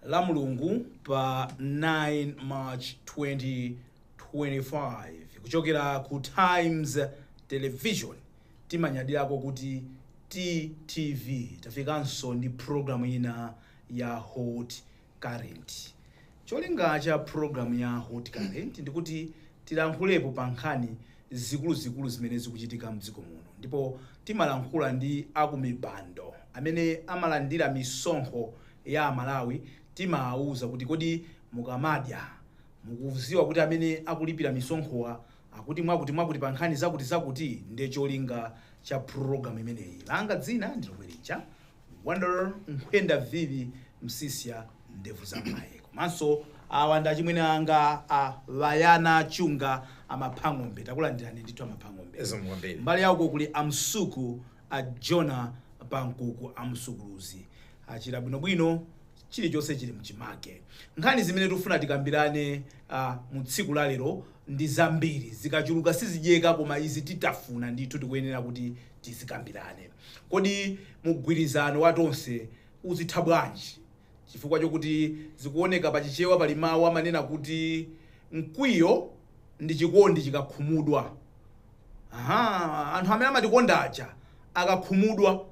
la mulungu pa 9 march 2025 kuchokera ku times television timanyadirako kuti ttv tafikanso ndi programu ina ya hot Current. Cholinga cha program ya Hot Current ndikuti tilankhulepo pa nkhani zikuluzikulu zimene zikuchitika mdziko muno ndipo timalankhula ndi akumpando amene amalandira misonkho ya amalawi timaauza kuti kodi mukamadya mukuziwa kuti amene akulipira misonkhowa akuti mwakuti mwakuti pa nkhani zakuti zakuti ndi cholinga cha program imeneyi langa dzina ndi lomwe lija Wonder nkhwenda vivi msiska ndevu za mayi komanso awa ndi achimwene anga a Bayana Chunga amapha ng'ombe takulandirani ndithu amapha ng'ombe Zikomo kwambiri. mbali ya uko kuli a Msuku a Jonah Pankuku a Msukuluzi achira bwinobwino chilichonse chili mchimake nkhani zimene tufuna tikambirane mu tsiku la lero ndi zambiri zikachuluka sizidyeka koma izi titafuna ndithu tikuyenera kuti tizikambirane. Kodi mgwirizano wa Tonse uzitha bwanji? Chifukwa chokuti zikuoneka pa Chichewa pali mawu amanena kuti mkwiyo ndi chikondi chikakhumudwa. Aha, anthu amene amatikonda aja akakhumudwa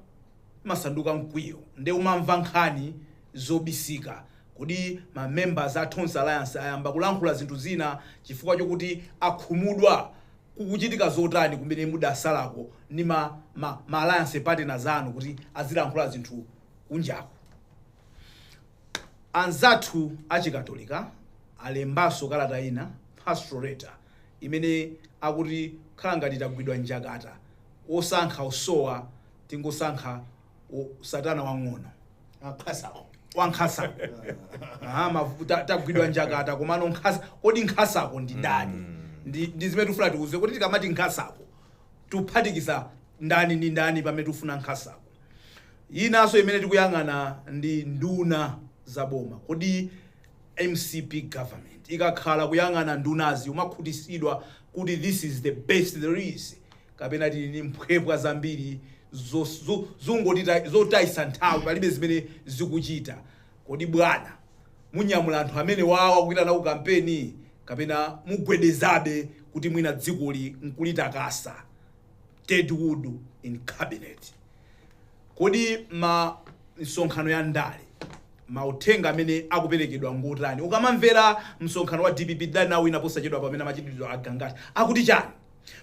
umasanduka mkwiyo nde umamva nkhani zobisika. Kodi ma members a Tonse Alliance ayamba kulankhula zinthu zina chifukwa chokuti akhumudwa? kukuchitika zotani kumene mudasalako ndi ma ma ma alliance partners anu kuti azilankhula zinthu kunjako anzathu achikatolika alembanso kalata ina pastoral letter imene akuti khala ngati tagwidwa njakata osankha usowa tingosankha o- satana wang'ono wankhasako wankhasa Ah, mavu- ta- tagwidwa njakata komano nkhasa kodi nkhasako ndi ndani ndi ndi zimene tifuna tikuuze kuti tikamati nkhasako tikuphatikiza ndani ndi ndani pamene tifuna nkhasako inanso imene tikuyang'ana ndi nduna za boma kodi mcp government ikakhala kuyang'ana ndunazi umakhutisidwa kuti this is the best there is kapena tili ni mphwepwa zambiri zotayisa nthawi palibe zimene zikuchita kodi bwana munyamula anthu amenewawa kuwaitana ku kampeni kapena mugwedezabe kuti mwina dzikoli nkulitakasa dead wood in cabinet kodi ma msonkhano ya ndale mauthenga amene akuperekedwa ngotani ukamamvera msonkhano wa dpp tidali nawo wina posachedwa pamene amachitidwa a Gangata akuti chani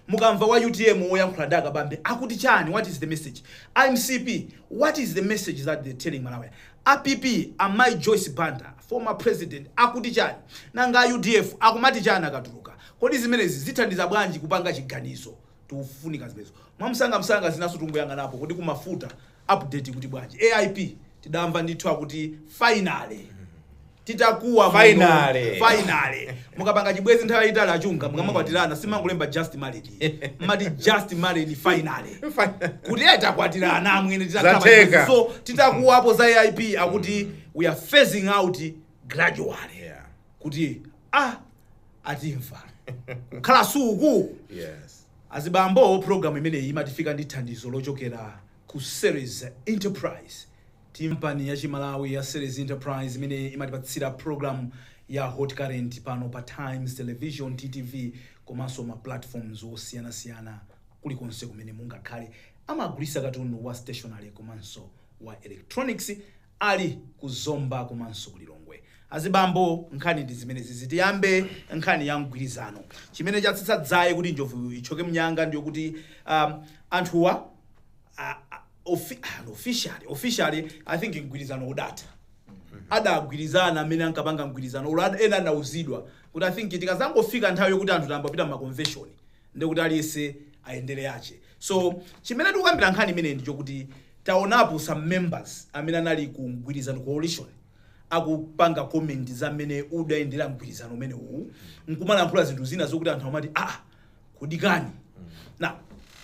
Mukamva wa utm woyankhula ndi a Kabambe akuti chani what is the message? A mcp what is the message that they're telling Malawians? A PP a Mai Joyce Banda former president akuti chani? Nanga a udf akumati chani akatuluka? Kodi zimenezi zithandiza bwanji kupanga chiganizo? Tikufunika zimenezo mwamsangamsanga zinaso tingoyang'anapo kodi ku mafuta Update ikuti bwanji? AIP tidamva ndithu akuti finally titakuwa muno, Finally. finally mukapanga chibwezi nthawi yayitali a Chunga mukamakwatirana simungolemba just married mumati just married finally kuti iye takwatirana amwene titakhala pa chibwezi. so titakuwapo za aip akuti we are phasing out gradually kuti a atimva kukhala suku. Azibambo, program imeneyi imatifika ndi thandizo lochokera ku Ceres Enterprise. Kampani ya chimalawi ya Ceres Enterprise imene imatipatsira program ya Hot Current pano pa Times Television, TTV, komanso ma platforms osiyanasiyana kulikonse kumene mungakhale. Amagulisa katundu wa stationery komanso wa electronics. Ali ku Zomba komanso ku Lilongwe. Azibambo nkhani ndi zimenezizi tiyambe nkhani ya mgwirizano. Chimene chatsitsa dzaye kuti njovu itchoke mnyanga ndiyokuti um, anthuwa a- a- offi- ah, officially officially I think mgwirizano udatha adagwirizana amene ankapanga mgwirizanowo ad- ena anauzidwa kuti I think tikazangofika nthawi yokuti anthu tayamba kupita mmakonveshoni ndekuti aliyese ayendere yache so chimene tikukambira nkhani imeneyi ndi chokuti taonapo some members amene anali ku mgwirizano coalition akupanga comment za mmene udayendera mgwirizano umenewu nkumalankhula zinthu zina zokuti anthu amati ah kudikani now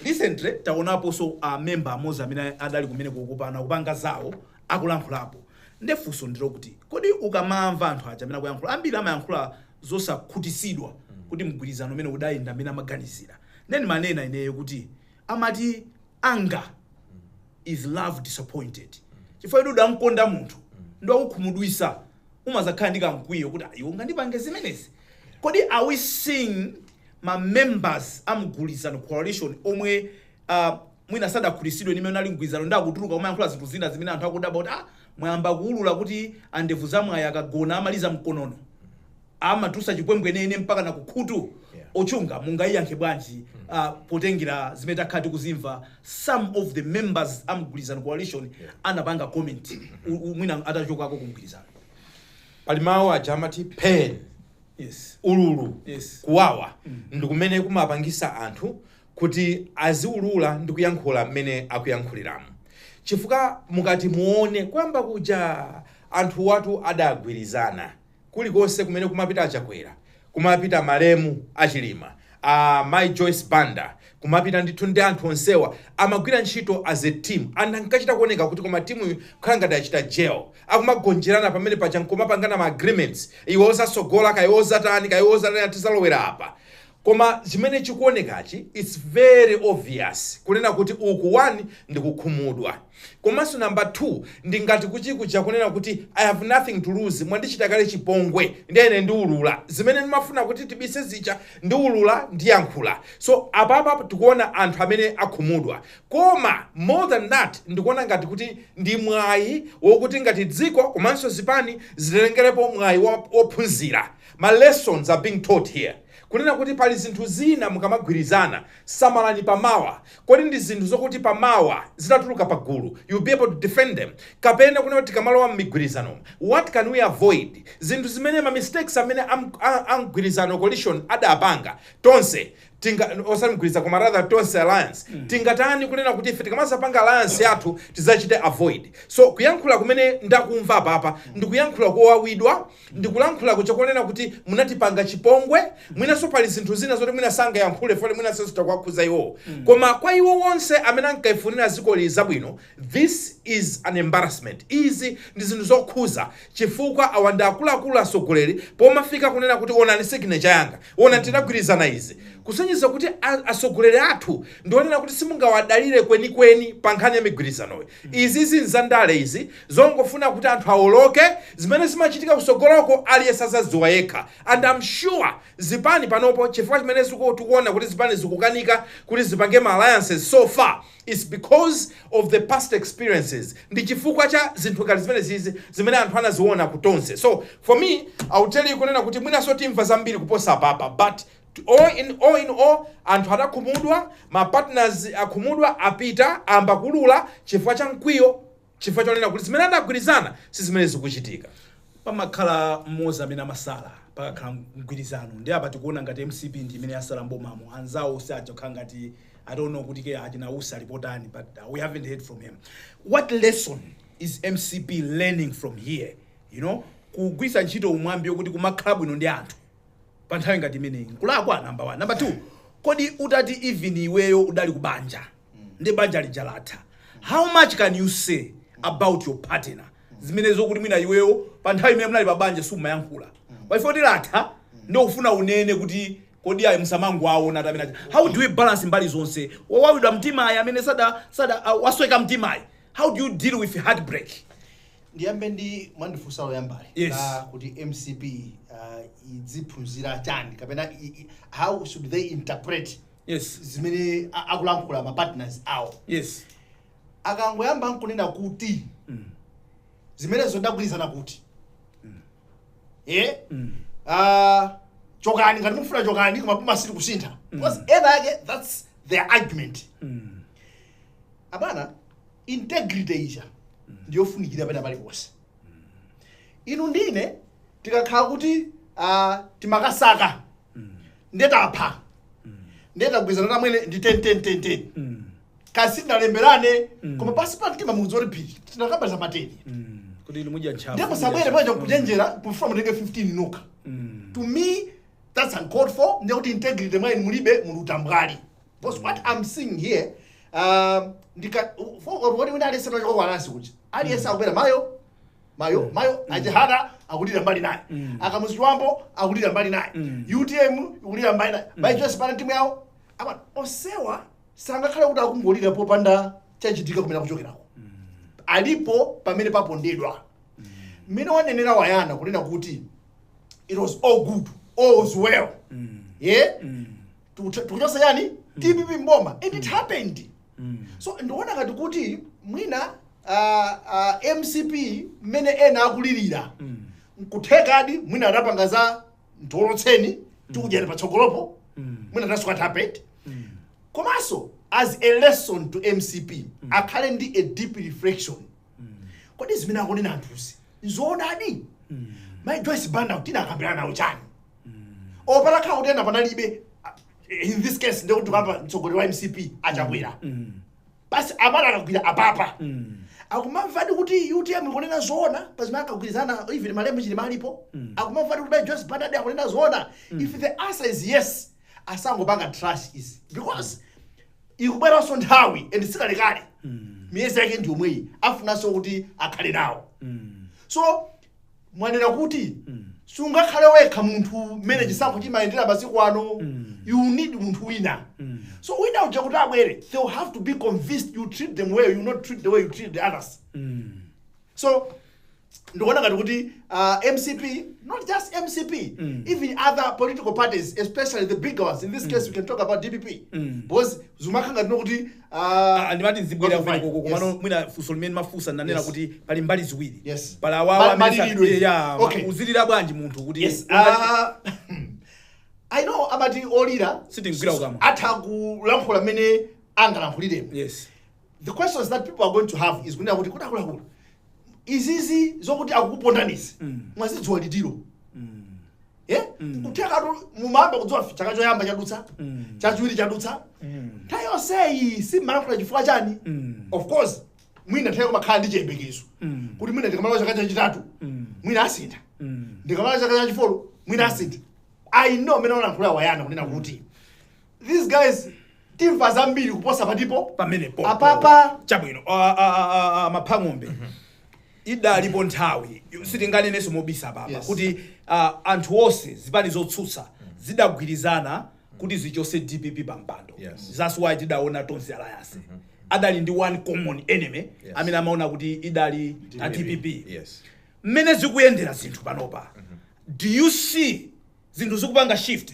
recently taonaponso a member amodzi amene adali kumeneko kupana kupanga zawo akulankhulapo ndefunso ndilokuti kodi ukamamva anthu aja amene akuyankhula ambiri amayankhula zosakhutisidwa kuti mgwirizano umenewu udayenda mmene amaganizira nde ndimanena ineyo kuti amati anger is love disappointed chifukwa kuti udamkonda munthu ndi wakukhumudwisa umazakhala ndi kamkwiyo kuti "Ah, iwe ungandipange zimenezi kodi are we seeing ma members a mgwirizano coalition omwe uh, mwina sadakhutisidwe ni mmene unalili mgwirizano ndi akutuluka kumayankhula zinthu zina zimene anthu akudabwa kuti ah, Mwayamba kuulula kuti Andevuzamwayi akagona amaliza mkonono, amatutsa chimwemwe nene mpakana kukhutu. Yeah. Ochunga mungayiyankhe bwanji ah, potengera zimene takhala tikuzimva some of the members a mgwirizano coalition anapanga comment u- u- mwina atachokako ku mgwirizano. pali mawu aja amati pain Yes. ululu Yes. kuwawa ndikumene kumapangisa anthu kuti aziulula ndi kuyankhula mmene akuyankhuliramu chifukwa mukati muone kuyamba kuja anthuwatu adagwirizana kulikonse kumene kumapita a Chakwera kumapita malemu a Chilima a Mai Joyce Banda kumapita ndithu ndi anthu onsewa amagwira ntchito as a team and ankachita kuoneka kuti koma timuyi kukhala ngati adachita gel akumagonjerana pamene paja nkumapangana ma agreements iwe uzasogola kaye uzatani kaye uzatani tizalowera apa Koma chimene chikuonekachi it's very obvious kunena kuti uku one ndi kukhumudwa komanso number two ndi ngati kuti kuja kunena kuti I have nothing to lose mwandichita kale chipongwe ndiye ine ndiulula zimene ndimafuna kuti tibise zija ndiulula ndiyankhula so apapa tikuona anthu amene akhumudwa koma more than that ndikuona ngati kuti ndi mwayi wokuti ngati dziko komanso zipani zitengerepo mwayi wophunzira Ma lessons are being taught here kunena kuti pali zinthu zina mukamagwirizana samalani pa mawa kodi ndi zinthu zokuti pa mawa zitatuluka pa gulu you'll be able to defend them kapena kunena kuti tikamalowa mmigwirizanomu what can we avoid zinthu zimene ma mistakes amene am, a, a mgwirizano coalition adapanga Tonse tinga osati mgwirizano koma rather Tonse alliance tingatani kunena kuti ife tikamazapanga alliance yathu tizachite avoid so kuyankhula kumene ndakumva apapa ndikuyankhula kowawidwa Ndikulankhula kochokonena kuti munatipanga chipongwe mwinanso pali zinthu zina zoti mwina sangayankhule fole mwinanso zitha kuwakhuza iwowo koma kwa iwo wonse amene ankalifunira dzikoli zabwino this is an embarrassment izi ndi zinthu zokhudza chifukwa awa ndi akuluakulu atsogoleri pomafika kunena kuti onani signature yanga onani tinagwirizana izi kusonyeza kuti a atsogoleri athu ndi onena kuti simungawadalire kwenikweni pa nkhani ya migwirizanoyi. Izizi nzandale izi zongofuna kuti anthu awoloke, zimene zimachitika kusogoloko aliyense azazidziwa yekha and am sure zipani panopo chifukwa chimene tikuona kuti zipani zikukanika kuti zipange ma alliances so far is because of the past experiences ndi chifukwa cha zinthu ngati zimenezizi zimene anthu anaziona ku Tonse so for me I will tell you kunena kuti mwinaso timva zambiri kuposa apapa but But all in all in all anthu adakhumudwa, ma partners akhumudwa apita ayamba kuulula chifukwa cha mkwiyo chifukwa chonena kuti zimene anagwirizana si zimene zikuchitika. Pamakhala mmodzi amene amasala pakakhala mgwirizano ndiye apa tikuona ngati mcp ndi imene yasala m'bomamo anzawo si aja okhala ngati I don't know kuti kaya achina Usi ali potani but uh, we haven't heard from him what lesson is mcp learning from here you know kugwiritsa ntchito mwambi wokuti kumakhala bwino ndi anthu pa nthawi ngati imeneyi nkulakwa namba 1 namba 2 kodi utati even iweyo udali ku banja ndi banja lija latha how much can you say about your partner zimene zokuti mwina iweyo pa nthawi imene munali pa banja sumayankhula paife kuti latha ndiye ukufuna unene kuti kodi ayi msamangowaona amene aja how do we balance mbali zonse wawawidwa mtima ayi amene sada sada wasweka mtima ayi how do you deal with heartbreak ndiyambe ndi mwandifunsa loyambali Yes. la kuti mcp uh, idziphunzira chani kapena i- i- how should they interpret yes zimene a- akulankhula ma partners awo yes akangoyamba nkunena kuti mm. zimenezo tidagwirizana kuti eh Mm. uh, chokani ngati mufuna chokani koma boma silikusintha because ena ake that's their argument Mm. abwana integrity ija ndiyofunikira pena paliponse inu ndi ine tikakhala kuti uh, timakasaka nde tapha nde tagwirizana amwene ndi 101010 Mm. kaya sitinalemberane koma pansi pa mtima mukudziwa kuti phiri tinakambadi za mateni Mm. kuti inu mudya ntchafu ndipo musabwere panja kuchenjera kufuna mutenge 15 nokha Mm. to me that's uncalled for ndiye kuti integrity mwa inu mulibe muli utambwali Because what I'm seeing here, um, ndika for what wina aliyense no kwa nasi kuja. Aliyense akulira mayo mayo mayo a Chihana akulira mbali inayi. A Kamuzu Chibambo akulira mbali inayi. UTM ikulira mbali inayi. By just para timu yao. Apa onsewa sangakhale kuti akungolira popanda chachitika kumene akuchokerako. Alipo pamene papondedwa. Mmene wanenera wayana kunena kuti it was all good, all was well. Yeah? tikucho- tikuchotsa yani dpp mboma and it happened Mm. so ndikuona ngati kuti mwina ah, ah, mcp mmene ena akulirira Mm. nkuthekadi mwina adapanga za tiwolotseni tikudyani patsogolopo Mm. mwina that's what happened Mm. komanso as a lesson to mcp akhale ndi a deep reflection kodi zimene akunena anthuzi nzoonadi mai joyce banda tidakambirana nawo chani patakhala kuti ena panalibe uh, in this case ndikuti papa mtsogoleri wa mcp a chakwera basi amala akagwira apapa akumamvadi kuti utm ikunena zoona pazimene akagwirizana even malemu chilima alipo akumamvadi kuti mai joyce bandadi akunena zoona if the answer is yes asangopanga trash izi because ikubweranso nthawi and sikalekale miyezi yake ndi yomweyi afunanso kuti akhale nawo so mwanena kuti sungakhale wekha munthu mmene chisankho chimayendera masiku ano you need munthu wina so wina uja kuti abwere they will have to be convinced you treat them well you not treat the way you treat the others so ndikuona ngati kuti uh, mcp not just mcp mm. even other political parties especially the bigger ones in this case mm. we can talk about dpp mm. because zumakhala ngati nokuti uh, ah, ndimati nzibwera kumeneko komano yes. mwina funso limene mafunsa nanena yes. kuti pali mbali ziwiri yes. pali awawa yeah, okay. uzilira bwanji munthu kuti yes. uh, i know amati olira sitimgwira kukamwa atha kulankhula mmene angalankhuliremo yes. the questions that people are going to have is kunena kuti kudakulakulo izizi zokuti akukupondanizi Mm. mwazidziwa litiro Mm. eh? Mm. kuthekatu mumayamba kudziwa chaka choyamba chadutsa Mm. chachiwiri chadutsa Mm. nthawi yonseyi simumalankhula chifukwa chani Mm. of course mwina kutheka mumakhala ndi chiyembekezo Mm. kuti mwina ndikamala chaka chachitatu Mm. mwina asintha Mm. ndikamala chaka chachifolo mwina asintha i know amene walankhula wayana kunena kuti these guys timva zambiri kuposa patipo pamenepo apapa chabwino a- a- a- a- a- maphang'ombe idalipo nthawi sitinganenenso mobisa papa Yes. kuti ah, anthu onse zipani zotsutsa zidagwirizana kuti zichotse dpp pa mpando Yes. that's why tidaona tonse alliance adali ndi one common enemy Yes. amene amaona kuti idali a dpp yes mmene zikuyendera zinthu panopa do you see zinthu zikupanga shift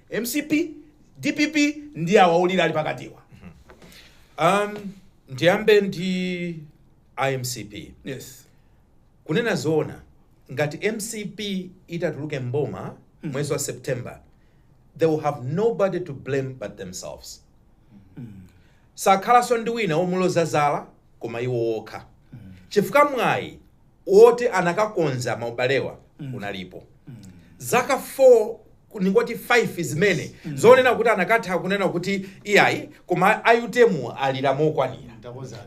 mcp dpp ndi awa olira ali pakatiwa um, ndiyambe ndi a mcp yes kunena zoona ngati mcp itatuluke mboma mwezi wa september they will have nobody to blame but themselves sakhalanso ndi wina womuloza zala koma iwo okha chifukwa mwayi woti anakakonza maubalewa unalipo zaka 4 ningoti 5 zimene zonena kuti anakatha kunena kuti iyayi koma a utm alira mokwanira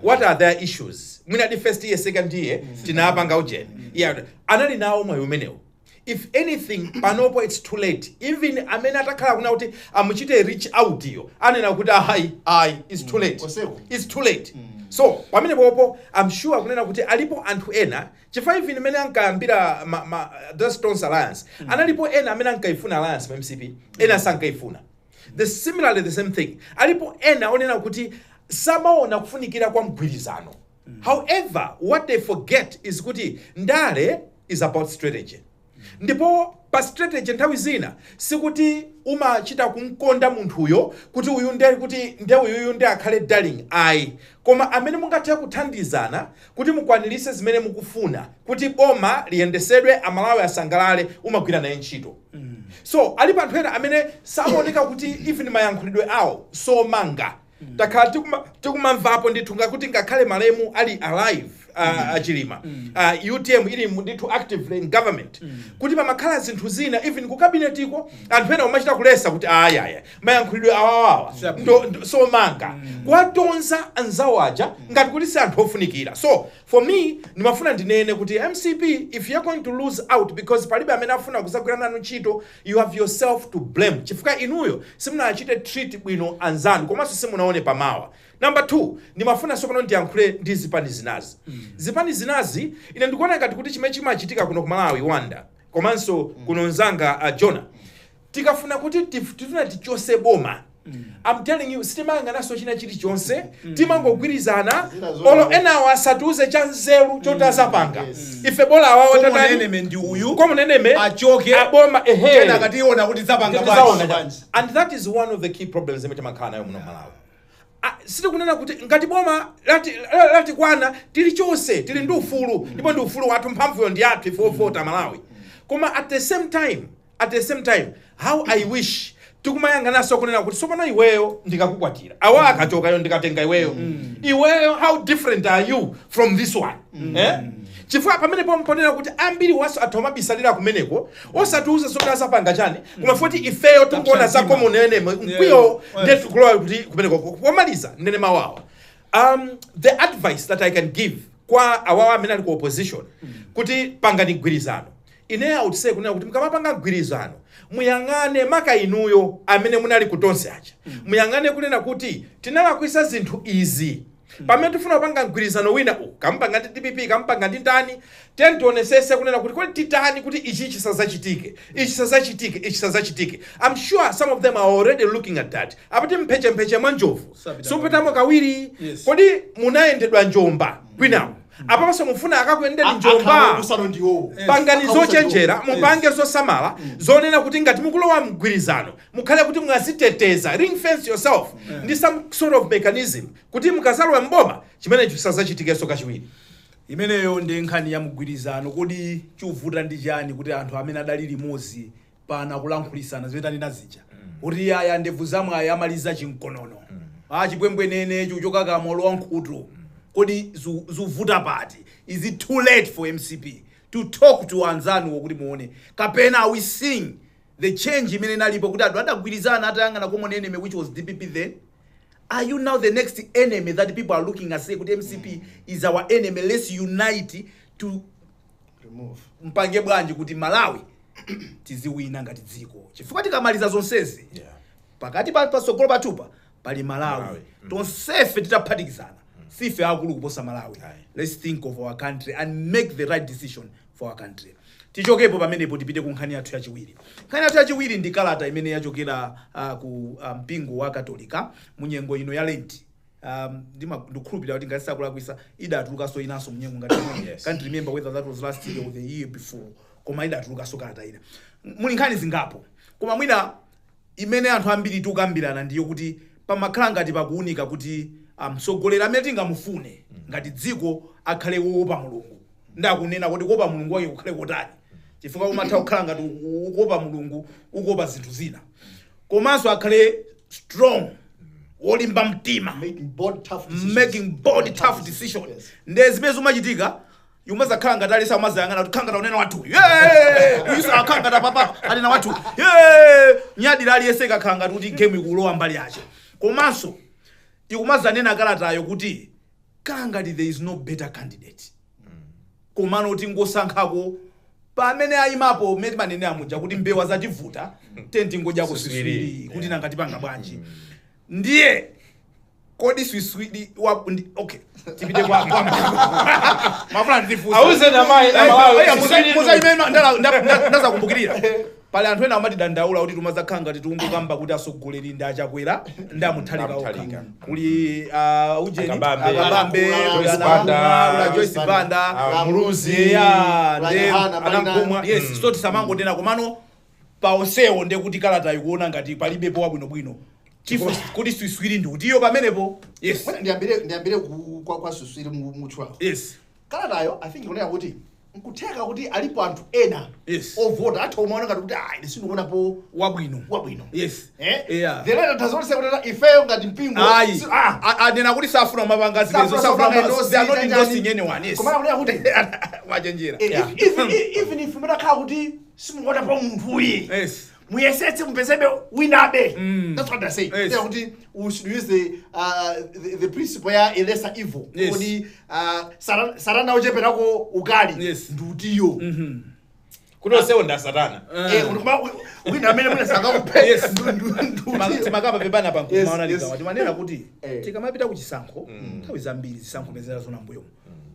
what are their issues mwina the first year second year tinapanga ujeni yeah. anali nawo mwayi umenewo if anything panopo its too late even amene atakhala akunena kuti amuchite reach out yo anena kuti ayi ayi its too late Oseko. its too late so pamene popo i'm sure kunena kuti alipo anthu ena chifukwa even mmene ankayambira ma, ma, the tonse alliance analipo ena amene ankaifuna alliance mu mcp ena sankaifuna the similarly the same thing alipo ena onena kuti samaona kufunikira kwa mgwirizano however what they forget is kuti ndale is about strategy ndipo pa strategy nthawi zina sikuti umachita kumkonda munthuyo kuti uyu nde kuti nde uyuyu nde akhale darling ayi koma amene mungathe kuthandizana kuti mukwanirise zimene mukufuna kuti boma liyendesedwe amalawi asangalale umagwira naye ntchito so alipo anthu ena amene zaoneka kuti even mayankhulidwe awo somanga takhala tikuma- tikumamvapo ndithu ngakuti ngakhale malemu ali alive uh, achilima uh, utm ili mu- ndithu actively in government kuti pamakhala zinthu zina even ku kabinetiko anthu ena umachita kuletsa kuti ayaya mayankhulidwe awawawa ndo- ndo- somanga kuwatonza anzawo aja ngati kuti si anthu ofunikira so for me ndimafuna ndinene kuti mcp if you're going to lose out because palibe amene afuna kuzagwira nanu ntchito You have yourself to blame chifukwa inuyo simunachite treat bwino anzanu komanso simunaone pamawa. Number two, ndimafuna tsopano ndiyankhule ndi zipani zinazi. Zipani zinazi ine ndikuona ngati kuti chimene chimachitika kuno ku Malawi Wanda komanso kuno nzanga uh, Jonah tikafuna kuti tif- tifuna tichose boma I'm telling you sitimayang'ananso china chilichonse timangogwirizana Zina zoona. olo enawo asatiuze cha nzeru choti azapanga Yes. ife bola awawo Koma tatani enemy ndi uyu common enemy achoke aboma ehe tena tikationa kuti azapanga Kuti bwanji. zaona bwanji. and that is one of the key problems imene timakhala nayo muno malawi Ah, sitikunena kuti ngati boma lati- la- latikwana tili chonse tili ndi ufulu ndipo ndi ufulu wathu mphamvuyo ndi yathu ife ovota malawi koma at the same time at the same time how i wish tikumayang'ananso kunena kuti tsopano iweyo ndikakukwatira awa akachokayo ndikatenga iweyo iweyo how different are you from this one eh? chifukwa pamene pompo nnena kuti ambiri a anzathu amabisalira kumeneko osatiuza zoti azapanga chani koma poti ifeyo tikuona za common enemy mkwiyo Yeah. ndetu kulowa kuti kumeneko pomaliza ndinene mawawa um, the advice that i can give kwa awawa amene ali ku opposition kuti pangani mgwirizano Ine I would say kunena kuti mukamapanga mgwirizano muyang'ane maka inuyo amene munali ku Tonse aja muyang'ane kunena kuti tinalakwisa zinthu izi pamene tifuna kupanga mgwirizano wina uwu kaya mupanga ndi dpp kaya mupanga ndi ndani tiyeni tionesese kunena kuti kodi titani kuti ichi chisazachitike ichi chisazachitike ichi chisazachitike I'm sure some of them are already looking at that amati mphechepeche mwa njovu Sapita sapitamo kawiri Yes. kodi munayendedwa njomba kwinawo Apanso mufuna akakuyendeni njomba? Pangani zochenjera, mupange zosamala zonena kuti ngati mukulowa mgwirizano mukhale kuti mwaziteteza, ring fence yourself ndi some sort of mechanism kuti mukazalowe m'boma chimenecho chisazachitikenso kachiwiri. Imeneyo ndi nkhani ya mgwirizano, kodi chuvuta ndi chani kuti anthu amene adali limodzi pana kulankhulisana zimene tanena zija kuti yaya ndevu za mwayi amaliza chinkonono a chipwembwenene chuchoka kamo lowa nkhutu kodi zu- zuvuta pati is it too late for mcp to talk to anzanuwo kuti muone kapena are we seeing the change imene inalipo kuti anthu adagwirizana atayang'ana common enemy which was dpp then Are you now the next enemy that people are looking and say, "Kuti MCP is our enemy. Let's unite to remove mpange bwanji kuti malawi tiziwina ngati dziko chifukwa tikamaliza zonsezi yeah pakati pa patsogolo pathupa pali malawi Malawi. tonsefe titaphatikizana sife akulu kuposa malawi Aye. let's think of our country and make the right decision for our country tichokepo pamenepo tipite ku nkhani yathu yachiwiri nkhani yathu yachiwiri ndi kalata imene yachokera uh, ku uh, mpingo wa katolika mu nyengo ino ya lenti um, ndima- ndikukhulupirira kuti ngati sindikulakwisa idatulukanso inanso mnyengo ngati imene. Yes. can't remember whether that was last year or the year before koma idatulukanso kalata ina muli nkhani zingapo koma mwina imene anthu ambiri tikukambirana ndiyo kuti pamakhala ngati pakuunika kuti ah, mtsogoleri amene tingamufune ngati dziko akhale woopa mulungu ndakunena kuti kuopa mulungu wake kukhale kotani chifukwa umatha kukhala ngati ukuopa mulungu ukuopa zinthu zina komanso akhale strong wolimba mtima Making bold, tough decisions. making bold tough decision Yes. nde zimene zimachitika ikumazakhala ngati aliyese akumazayang'ana kuti khala ngati akunena wathu uyu akakhala ngati apapa anena wathu nyadira aliyese kakhala ngati kuti game ikulowa mbali yache komanso ikumazanena kalatayo kuti khala ngati there is no better candidate komano tingosankhako pamene ayimapo mmene timanenera muja kuti mbewa zativuta tiyeni tingodyako Siswiri. siswiri kuti Yeah. nanga tipanga bwanji ndiye kodi swiswiri wa ndi- okay tipite kwa kwa mafuna ndifunse Auzeni a mai na Malawi, siswiri tu. muzaimema ndazakumbukirira Pali anthu ena amatidandaula kuti tumazakhala ngati tikungokamba kuti atsogoleri ndi a Chakwera ndi a Mutharika okha. Mutharika. Kuli a Ujeni, a Kabambe, Kabambe, Kula, kuli Joyce a Banda, Nangula, kuli a Joyce Banda, a Muluzi, Eya, kula nde Yohana, pali a Nankhumwa. nani? Yes, so tisamangonena komano pa onsewo nde kuti kalata ikuona ngati palibepo wabwinobwino. Chifu kuti swiswiri ndi utiyo pamenepo. Yes. Bwana, ndiyambire ndiyambire ku- kwa kwa swiswiri mu- mutchulawo Yes. kalatayo i think ikunena kuti nkutheka kuti alipo anthu ena Yes. ovota atha kumaona ngati kuti ah ine sindikuonapo wabwino wabwino yes Eh? Yeah. The letter does not say kuti ifeyo ngati mpingo ayi si- ah, A- anena kuti safuna mapanga zimenezo safuna safuna kupanga ma- endorse, they are not chani, endorsing chani. anyone yes Koma akunena kuti wachenjera eh, Yeah. if- even- even if mutakhala kuti simukuonapo munthuyo yes muyesetse mupezebe winabe Mm. that's what i say Yes. yeah. kuti we should use the, uh, the, the principle ya a lesser evil Yes. kuti uh, sara- satana ocheperako ukali Yes. ndi utiyo Mhm. kuti onsewo ndi asatana Eh. Eh, kuti koma wi- wina amene mwina sangakuphe Yes. ndu- ndu- ndu- Ma- ndi utiyo. timakamba pepana pa Yes, maona yes. ligawa timanena kuti Eh. tikamapita ku chisankho nthawi zambiri zisankho zimene taziona mmbuyo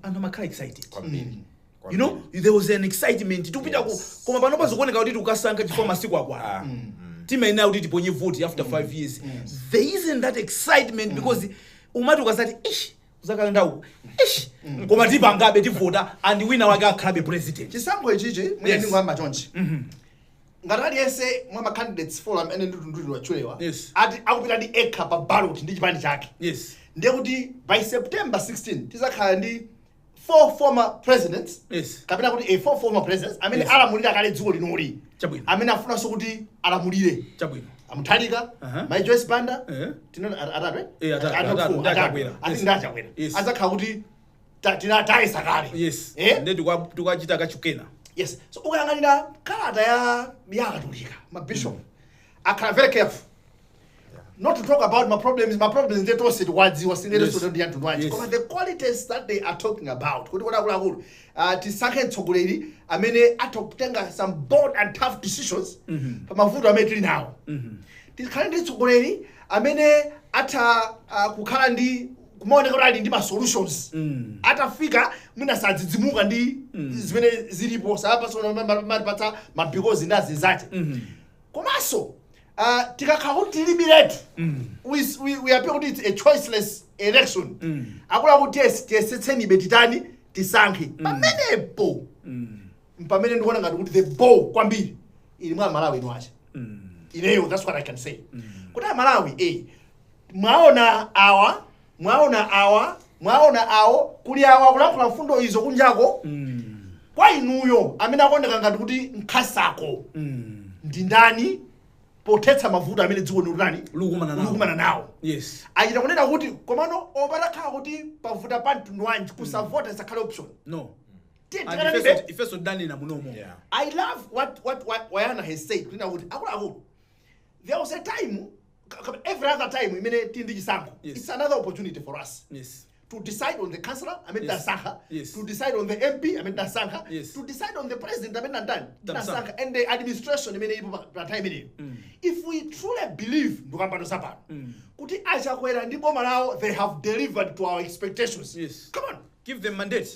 anthu amakhala excited kwambiri you know there was an excitement tikupita ku Yes. koma panopa zikuoneka kuti tikukasankha chifukwa masiku akwana Ah, timayenera kuti tiponye vote after five years there isn't that excitement because umati ukasati ish uzakalenda uku ish koma tipangabe tivota and wina wake akhalabe president chisankho ichichi mwina Yes. ndingoyamba chonchi ngati aliyense mwa ma candidates four amene ndi otchulidwatchulidwa Yes. ati akupita ndi yekha pa ballot ndi chipani chake yes ndiye kuti by september 16 tizakhala ndi four former presidents Yes. kapena kuti eh, four former presidents amene Yes. alamulira kale dziko linoli Chabwino. amene afunanso kuti alamulire chabwino a mutharika Aha. mai joyce banda Eh. tinena at- atatu Eh, atatu, Atatu, atatu, four, ndi atatu. A Chakwera. Ati Yes. ndi a chakwera Yes. adzakhala kuti ta- tina- tayesa kale yes Eh? nde tikwa- tikwachita kachikena yes so ukayang'anira kalata ya ya akatolika mabishop akhala very careful not to talk about ma problems ma problems nde tonse tikwadziwa sindere Yes. sodo ndi anthu nwaje Yes. koma the qualities that they are talking about kuti kodi akuluakulu uh, tisankhe mtsogoleri amene atha kutenga some bold and tough decisions pa mavuto amene tili nawo tikhale ndi mtsogoleri amene atha uh, kukhala ndi kumaoneka kuti ali ndi ma solutions Mm. atafika mwina sadzidzimuka ndi zimene zilipo sayambanso kumatipatsa ma because ndi azinzache komanso Uh, tikakhala kuti tilibiretu mm. we, we, we appear kuti it's a choiceless election mm. akunena kuti yes tiyesetsenibe titani tisankhe mm. pamenepo mm. mpamene ndikuona ngati kuti the ball kwambiri ili mwa amalawi eni ache mm. ineyo that's what i can say mm. kuti amalawi eh mwaona awa mwaona awa mwaona awo kuli awa akulankhula mfundo izo kunjako kwa inuyo amene akuoneka ngati kuti nkhasako ndi ndani pothetsa mavuto amene dziko likutani Likukumana nawo. likukumana nawo yes achita kunena kuti komano olo patakhala kuti pavuta pa mtundu wanji kusavota isakhale option no Tiye And tikananibe. ifenso- ifenso tanena munomo Yeah. I love what what what Bayana has said. Kunena kuti akuluakulu. There was a time ka- ka- every other time imene tili ndi chisankho Yes. it's another opportunity for us yes to decide on the councillor amene Yes. tasankha Yes. to decide on the mp amene tasankha Yes. to decide on the president amene nandani Tamsankha. tasankha and the administration imene ipo pa- pa time imeneyo if we truly believe ndikukamba za pano kuti a Chakwera ndi boma lawo they have delivered to our expectations Yes. come on give them mandate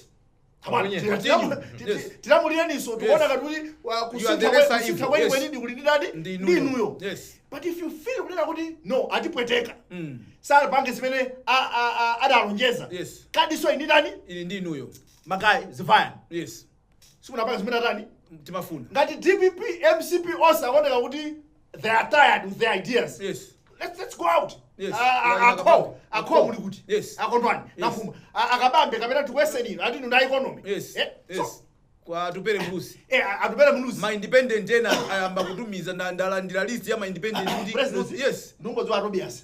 Come on, Yes. tilamu- ti- Yes. ti- tilamulireninso Yes. tikuona ngati kuti wa- You are the kusintha kwe- lesser kusintha evil. kweni Yes. kweni ndi kuli ndi ndani Ndi ndi inuyo. inuyo Yes. but if you feel kunena kuti no atipweteka Mm. sanapange zimene a- a- a- adalonjeza Yes. kadinso ili ndi ndani Ili ndi inuyo. magayi ziwayani Yes. simunapange zimene atani Timafuna. ngati dpp mcp onse akuoneka kuti they are tired with their ideas Yes. let's, let's go out Yes. Ah, ah, Like akho Akabambe. akho muli kuti Yes. akondwani nafuma Ah, akabambe kapena tiwesenino atinu na economy yes Eh, so, yes kwa tupere mbusi eh, ah, atupele muluzi ma independent ena ayamba kutumiza nda- ndalandira list ya ma independent kuti yes nungodziwa tobias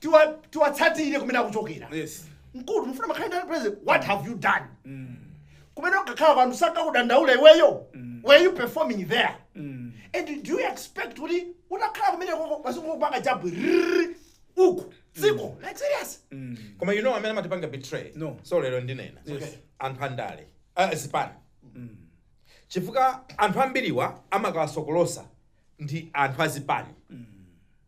tiwa- tiwatsatire kumene akuchokera Yes. munthu mukufuna akhale president what have you done kumene umakhala anthu sakakudandaula iweyo were you performing there and do you expect kuti utakhala kumeneko ukakapanga jabu rrrr, uku dziko like serious koma you know amene amatipanga betray No. so lero ndinena Yes. anthu andale ah, zipani chifukwa anthu ambiriwa amakawasokolosa ndi anthu azipani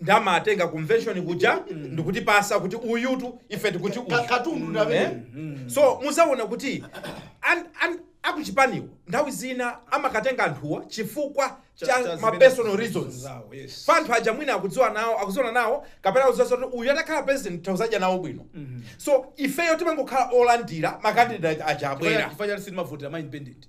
ndi amatenga convention kuja ndikutipasa kuti uyutu ife tikuti uyu Ka- katundu ndi amene. Eh? so muzaona kuti an- an- akuchipaniwo nthawi zina amakatenga anthuwa chifukwa Cha- cha cha ma zimene- personal reasons zawo, yes. pa anthu aja mwina akudziwa nawo akuziona nawo kapena akudziwa kuti uyu atakhala president tizadya nawo bwino so ifeyo timangokhala olandira ma candidate aja abwera Chifukwa chani sitimavotera ma independent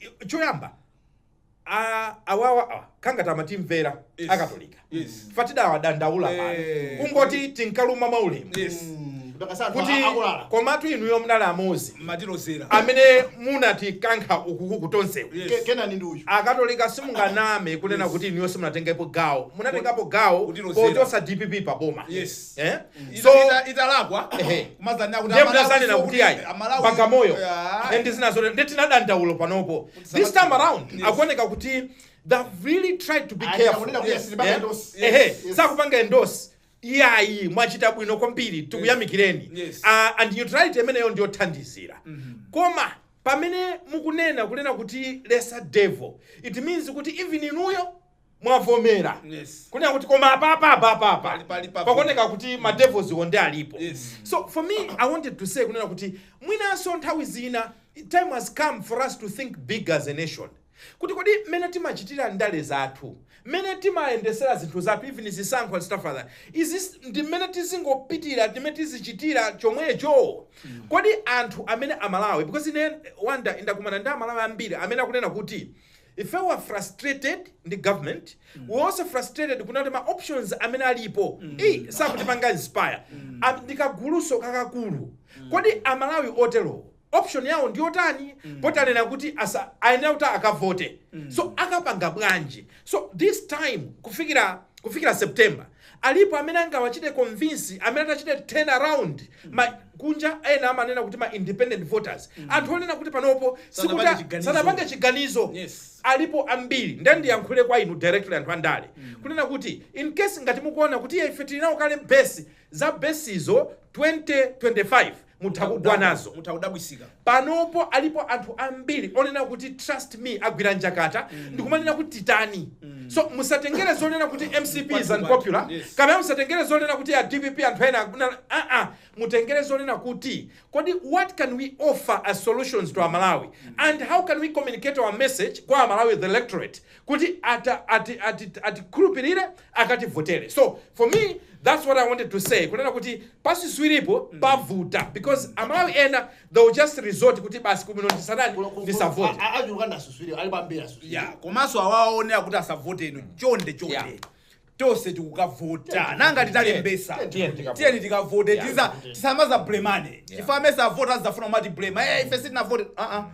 I- choyamba a- awawa awa, kaya ngati amatimvera Yes. akatolika Yes. Fatida wadandaula pano Eh. kungoti tinkaluma mwaulemu Yes. Ndakatsanthu kuti akuluakulu. komatu inuyo mnali amozi Matilozera. amene munatikankha ukukuku tonsewu Yes. Ke- Kunena ndi uyu. akatolika simunganame kunena kuti inuyo simunatengepo gawo munatengapo gawo Kutilozera. pochosa dpp pa boma Yes. Eh? Ita- So- ita- italakwa Ehe. kumazanena kuti ndiye amalawi mudazanena nso kuti ayi amalawi- bagamoyo Ah, and zinazo ndiye tinadandaula panopo this time around Yes. akuoneka kuti they've really tried to be Ayi, careful akunena kuti Yes. sitipanga Eh? endorse. Ehe, Yes. Yes. sakupanga endorse iyayi mwachita bwino kwambiri tikuyamikireni Yes. Ah, and neutrality imeneyo ndiyothandizira koma pamene mukunena kunena kuti lesser devil it means kuti even inuyo mwavomera Yes. kunena kuti koma apapa apapa apa Pali- pali papo. pakuoneka kuti ma devils onse alipo Yes. so for me i wanted to say kunena kuti mwinanso nthawi zina time has come for us to think big as a nation kuti kodi mmene timachitira ndale zathu mmene timayendesera zinthu zathu even zisankho and stuff like that izi ndi mmene tizingopitira ndi mmene tizichitira chomwecho kodi anthu amene amalawi because ine one day ndakumana ndi amalawi ambiri amene akunena kuti Ife we are frustrated ndi government, we're also frustrated kuona kuti ma options amene alipo eyi sakutipanga inspire. A- Ndi kagulunso kakakulu. Kodi Amalawi oterowo option yawo ndi yotani? Poti anena kuti asa- ayenera kuti akavote. So akapanga bwanji? So this time kufikira kufikira September Alipo amene angawachite convince amene atachite turn around ma kunja ena amanena kuti ma independent voters anthu onena kuti panopo si sanapange chiganizo yes. alipo ambiri nde ndiyankhule kwa inu directly anthu andale mm. kunena kuti in case ngati mukuona kuti ife tili nawo kale base za besizo 2025 Mutha kugwa nazo. Mutha kudabwisika. Panopo alipo anthu ambiri onena kuti trust me agwira njakata ndikumanena kuti titani. So musatengere zonena kuti mcp is unpopular, yes. kapena musatengere zonena kuti a dpp anthu ena akuna- ah, ah. mutengere zonena kuti kodi what can we offer as solutions to amalawi and how can we communicate our message kwa amalawi the electorate kuti ata, ati, ati, atikhulupirire akativotere so for me that's what i wanted to say kunena kuti pasuswiripo pavuta because Amalawi ena they will just resort kuti basi kuli bwino ndisanani ndisavote achuluka ndasuswiri alipo ambiri asuswiri yeah komanso awo akunena kuti asavote ino chonde chonde Yeah. tonse tikukavota nanga titalembesa Tiyeni tikavote. tiyeni tikavote Yeah. tiza tisamadzablemane chifukwa amene sadavote adzafuna kumatiblema eh ife sitinavote ah ah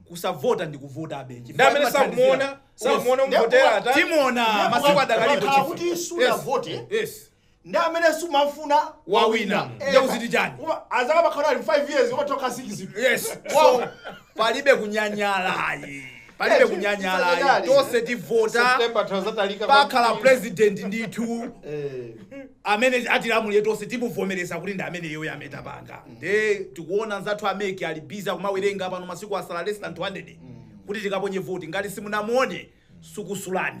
kusavota ndi kuvotabe ndiye amene sakumuona sakumuona Yes. umvotera ata timuona masiku adakalipo Wakhala chifu. kuti sunavote Yes. yes ndi amene sumafuna Wawina. Eh, Ndiye kuti chani? Uma- adzakhala ali 5 years umatoka 6 yes so palibe kunyanyala ayi palibe kunyanyala ayi. tonse tivota September tinazatalika pakhala kwambiri. president ndithu Eh, amene atilamulire tonse timuvomereza kuti ndi ameneyoyo ametapanga nde tikuona anzathu a MEC ali busy kumawerenga pano masiku asala less than 200 kuti tikaponye voti ngati simunamuone sukusulani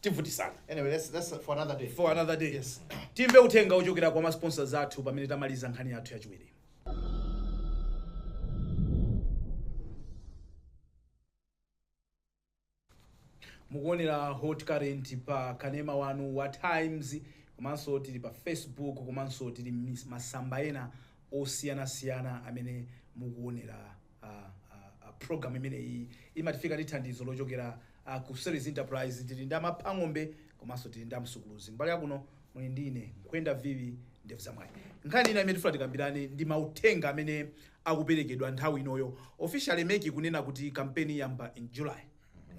tivutisana Anyway, that's that's for another day. for another day Yes. timve uthenga wochokera kwa masponsors athu pamene tamaliza nkhani yathu yachiwiri mukuonera hot current pa kanema wanu wa times komanso tili pa facebook komanso tili mis- masamba ena osiyanasiyana amene mukuonera Program imeneyi imatifika ndi thandizo lochokera ku Series Enterprise. Tili ndi a Mapha Ng'ombe komanso tili ndi a Msukuluzi. Kumbali yakuno muli ndi ine Nkwenda Viwi Ndevu za Mwayi. Nkhani ina imene tifuna tikambirane ndi mauthenga amene akuperekedwa nthawi inoyo. Officially mec ikunena kuti kampeni iyamba in July.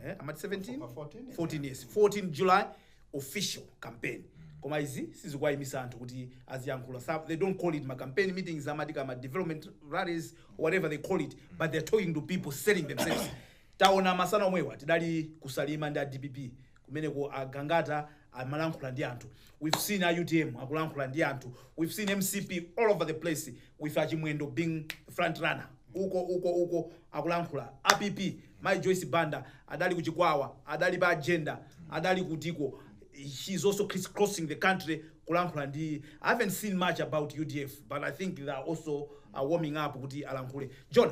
eh, amati 17 Pa 14, 14 yes 14 july official campaign koma izi sizikuwayimisa anthu kuti aziyankhula Sa- they don't call it ma campaign meetings amati kama development rallies whatever they call it but they're talking to people selling themselves taona masana omwewa tidali ku salima ndi a dpp kumeneko a Gangata amalankhula ndi anthu we've seen a utm akulankhula ndi anthu we've seen mcp all over the place with a chimwendo being front runner uko uko uko akulankhula a pp mai joyce banda adali ku chikwawa adali pa jenda adali kutiko she's also criss crossing the country kulankhula ndi i haven't seen much about udf but i think they are also uh, warming up kuti alankhule john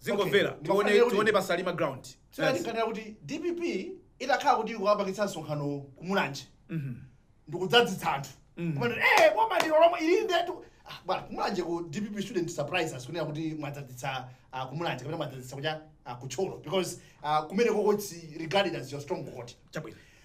zingomvera Okay, tione tifanire kuti- tione pasalima ground so Yes. yatikhanira kuti dpp itakhala kuti ikukapangitsa msonkhano kumulanje Mhm. ndikudzadzitsa anthu Mm. kumati eh boma ndilo lomwe ili ndetu Ah, bwana kumulanje ku dpp shouldn't surprise us kunena kuti mwadzadzitsa ah, kumulanje kapena mwadzadzitsa kucha ah, ku thyolo because ah, kumenekoko it's regarded as your stronghold chabwino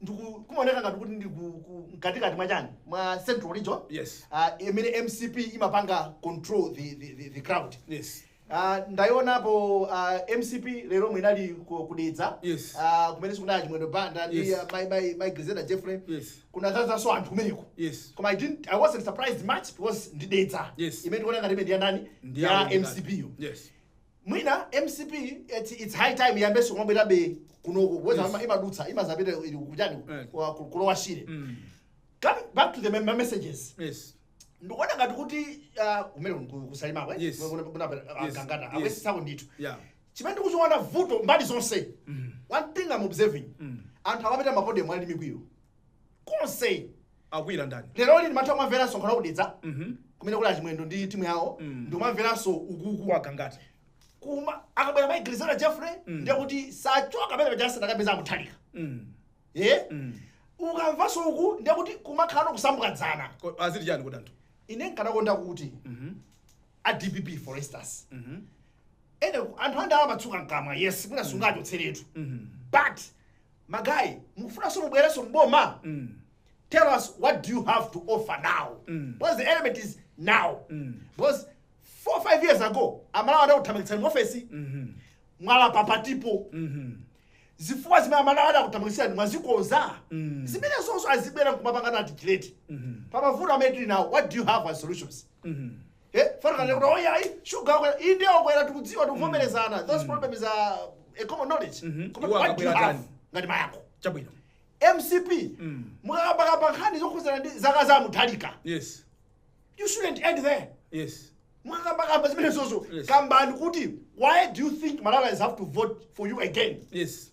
ndiku kumaoneka ngati kuti ndi ku- ku- mkatikati mwa chani mwa central region Yes. Ah, imene mcp imapanga control the, the, the, the crowd Yes. Ah, ndaionapo ah, mcp lero lomwe inali ku- ku dedza Yes. Ah, kumene sikunali chimwendo banda ndi Yes. ah, mai- mai- mai Grezelder jeffrey Yes. kunadzadzanso anthu kumeneko Yes. koma i didn't i wasn't surprised much because ndi dedza Yes. imene tikuona ngati imene ndiyandani Ndi ya yawo ndikati. mcp yo Yes. Mwina mcp eti it's high time iyambenso kumabwerabe kunoko whereas Yes. ima- imadutsa imazapita ili kuchani Eh. kwa- ku- ku lower shire Mm. coming back to the mem- my messages Yes. ndikuona ngati kuti ah, kumene ku- kusalima kwe Yes. Kuna- kuna- ah, Yes. gangata Yes. ayesetsako ndithu Yeah. chimene ndikuchiona vuto mbali zonse Mm. one thing i'm observing Mm. anthu amapita mapodium ali ndi mikwiyo konse Akwiyira ndani? Leroli ndimatha kumamvera msonkhano wa ku Dedza Mhm. kumene kuli achimwendo ndi timu yawo Mm. ndikumamveranso ukuku kwa Gangata. koma akabwera mai Grezelder Jeffrey Mm. ndiye kuti sachoka pamene paja asanakapeze amutharika Mm. eh Mm. ukamvanso uku ndiye kuti kumakhala nkusambukadzana Ko- Aziti chani kodi anthu? ine nkanakonda kuti Mhm. a dpp for instance Mhm. ene anthu andale amatsuka mkamwa yes mwina sungachotseretu Mhm. but ma guy mukufunanso mubwerenso mboma mm. tell us what do you have to offer now mm. because the element is now mm. because four five years ago amalawi adakuthamangitsani muofesi mm -hmm. mwalapa patipo mm -hmm zifukwa zimene amalawi adakuthamangitsirani mwazikonza mm. zimenezonso azibwera nkumapanga articulate mm -hmm. pamavuto amene tili nawo what do you have as solutions mm -hmm. he fana mm. kuti oya ayi sugar wakwera inde wakwera tikudziwa tikuvomerezana mm. those mm. problems are a common knowledge mm -hmm. koma what do you have ngati mayankho chabwino mcp mm. mukakambakamba nkhani zokhuzana ndi zaka za mutharika yes you shouldn't end there yes mukakambakamba zimenezozo yes. kambani kuti why do you think malawians have to vote for you again yes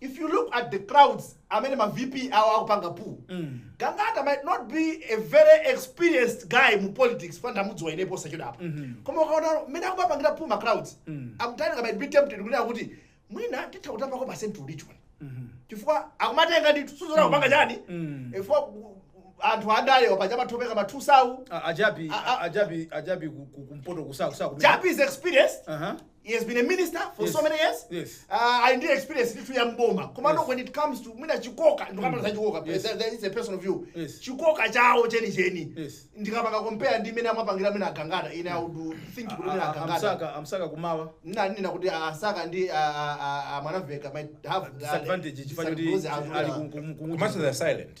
if you look at the crowds amene ma vp awo akupanga pull mm. gangata might not be a very experienced guy mu politics ena tamudziwa ife posachedwapa mm -hmm. koma ukaona mmene akumapangira pull ma crowds mm. I'm telling you might be tempted kunena kuti mwina titha kutapako pa central region mm -hmm. chifukwa akumatenga ndithu sudziwa kupanga chani mm. chifukwa anthu andale paja amatopeka ma 2000 ajabi ajabi ajabi kumpoto a Msaka a jabi is experienced uh -huh. He has been a minister for Yes. so many years. Yes. Uh, ali ndi experience ya m'boma. Komano, Yes. when it comes to mwina chikoka, ndikapanga za chikoka. Yes. There- there is a personal view. Yes. Chikoka chao cheni cheni. Yes. Ndikapanga compare ndi mmene amapangira mwina a Gangata. Ine I would think kuti mwina a Gangata. a Msaka a Msaka kummawa Ndimanena kuti a Msaka ndi ah, ah, ah, Mwanamveka might have ah, disadvantage chifukwa choti disadvantage as ali well. ku- ku- ku- komanso they are silent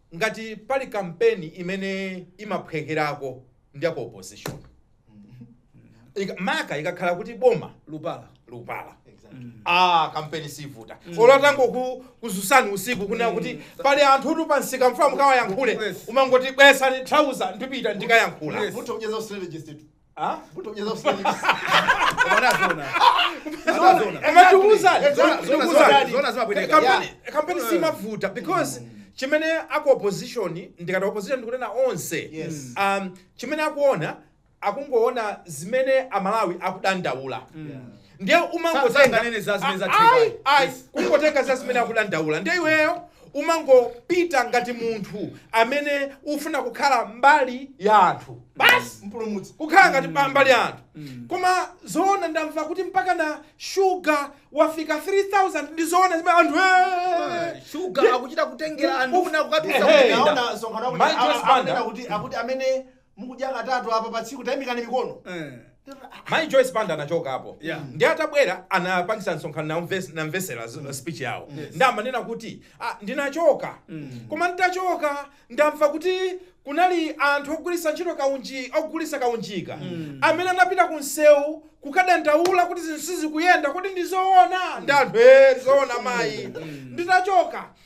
ngati pali kampeni imene imaphwekerako ndi ya ku opposition Ika- maka ikakhala kuti boma lupala lupala exactly ah kampeni siyivuta olo atangokudzutsani usiku kunena kuti pali anthutu pamsika ndikufuna mukawayankhule Yes. umangoti bweretsani trouser ndipita ndikayankhula Yes. mutha kukhala strategist tu Ah? Kutokeza usingizi. Unaona zona. Unaona zona. Koma tikuwuzani, Zona- zona- tikuwuzani. zona- zona zimabwereka. Kampeni- Yeah. kampeni siyimavuta because chimene aku opposition ndikati opposition ndikunena onse Yes. um, chimene akuona akungoona zimene amalawi akudandaula ndiye umangotenga sanganene za zimene zatheka. kungotenga za zimene akudandaula ndiye iweyo umangopita ngati munthu amene ufuna kukhala mbali ya anthu basi mpulumutsi kukhala ngati pa mbali ya anthu koma zoona ndamva kuti mpaka na shuga wafika 3000 ndi zoona zimenezo anthu "Eh, shuga akuchita kutengera anduna kukatsitsa Ehe. ku vendor Naona msonkhano wakuti- Mayi Joyce a- a- Banda. akunena kuti akuti amene mukudya katatu apa pa tsiku tayimikani mikono Eh. mayi joyce banda anachokapo Yeah. ndi atabwera anapangisa msonkhano ndamves- ndamvetsera z- speech yawo ndiye amanena kuti ah, ndinachoka koma nditachoka ndamva kuti kunali anthu ogulisa ntchito kaunji ogulisa kaunjika amene anapita ku msewu kukadandaula kuti zinthu sizikuyenda kuti ndizoona ndiye anthu e zoona mayi nditachoka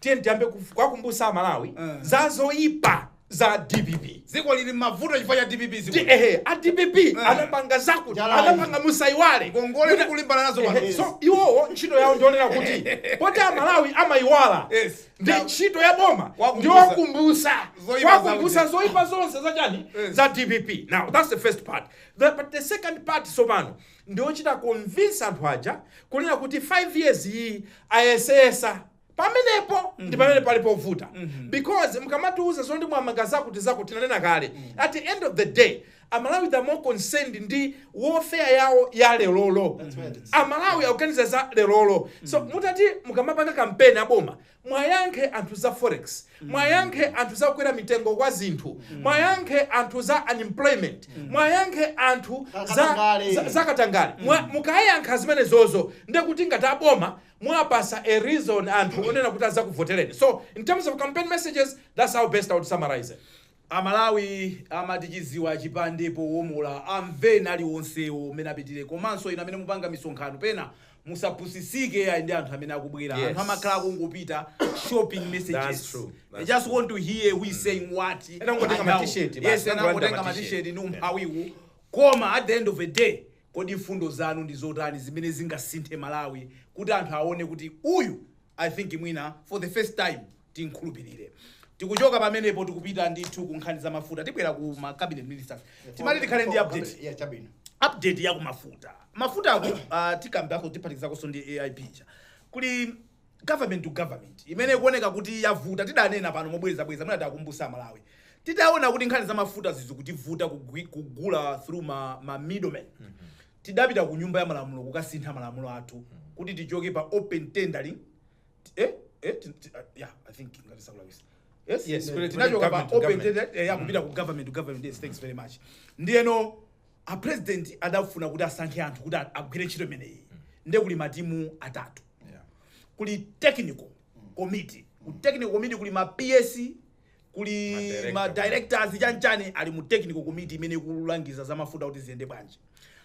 tiyeni tiyambe kuf- kuwakumbutsa amalawi Eh. za zoyipa za dpp dziko lili m'mavuto chifukwa cha dpp Di- dziko ehe a dpp Eh. anapanga zakuti Jalali. anapanga musayiwale ngongole Kuti- tikulimbana nazo Ehe, pano so iwowo ntchito yawo ndi yonena kuti poti amalawi amayiwala Yes. ndi ntchito ya boma Kuwakumbutsa. ndi yowakumbutsa Zoipa kuwakumbutsa zakuti. zoyipa zonse zachani Yes. za dpp now that's the first part the, but the second part tsopano ndi yochita convince anthu aja kunena kuti 5 years iyi ayesetsa pamenepo ndi pamene pali povuta because mkamatiuza zoti mwamanga zakuti zakuti tinanena kale at the end of the day amalawi are more concerned ndi welfare yawo ya lelolo That's where it is. amalawi akuganiza za lelolo so mutati mukamapanga kampeni aboma mwayankhe anthu za forex mwayankhe anthu za kukwera mitengo kwa zinthu mwayankhe anthu za unemployment mwayankhe anthu za, Katangale. za, za katangale Mwa- mukayankha zimenezozo ndekuti ngati aboma mwapasa a reason anthu onena kuti azakuvoteleni so in terms of campaign messages that's how best i would summarize it. Amalawi amati chiziwa chipande powomola amveni aliwonsewo mmene angapitire komanso inu amene mupanga misonkhano pena musapusisike ayi ndi anthu amene akubwera Yes. anthu amakhala akungopita shopping That's messages true. they That's just want to hear who is saying what Ena angotenga and how. ma t-shirt basi, yes ena angotenga angotenga ma ma t-shirt. t-shirt ni umphawiwu koma at the end of the day Kodi mfundo zanu ndi zotani zimene zingasinthe Malawi kuti anthu awone kuti uyu I think mwina for the first time timkhulupirire. Tikuchoka pamenepo tikupita ndithu ku nkhani za mafuta tibwera ku ma cabinet ministers. Timati tikhale ndi update. Yeah, chabwino. Update ya ku mafuta. Mafuta ako uh, tikambako tiphatikizakonso ndi AIP ija. Kuli Government to government imene ikuoneka kuti yavuta tidanena pano mobwerezabwereza mwina tiakumbuse amalawi titaona kuti nkhani za mafutazi zikutivuta kugwi- kugula through ma, ma middlemen tidapita ku nyumba ya malamulo kukasintha malamulo athu kuti tichoke pa open tendering Ti- eh, eh, ti- ti- ah, yeah, I think ngati sindikulakwitsa. Yes, Yes, eh, kule- tinachoka kule pa government to open government. tender- eh, ya kupita ku government to government yes, thanks very much ndiyeno a president adafuna kuti asankhe anthu kuti a- agwire ntchito imeneyi ndiye kuli matimu atatu kuli technical committee ku technical committee kuli ma ps kuli Madirector. ma directors chanchani ali mu technical committee imene ikulangiza za mafuta kuti ziyende bwanji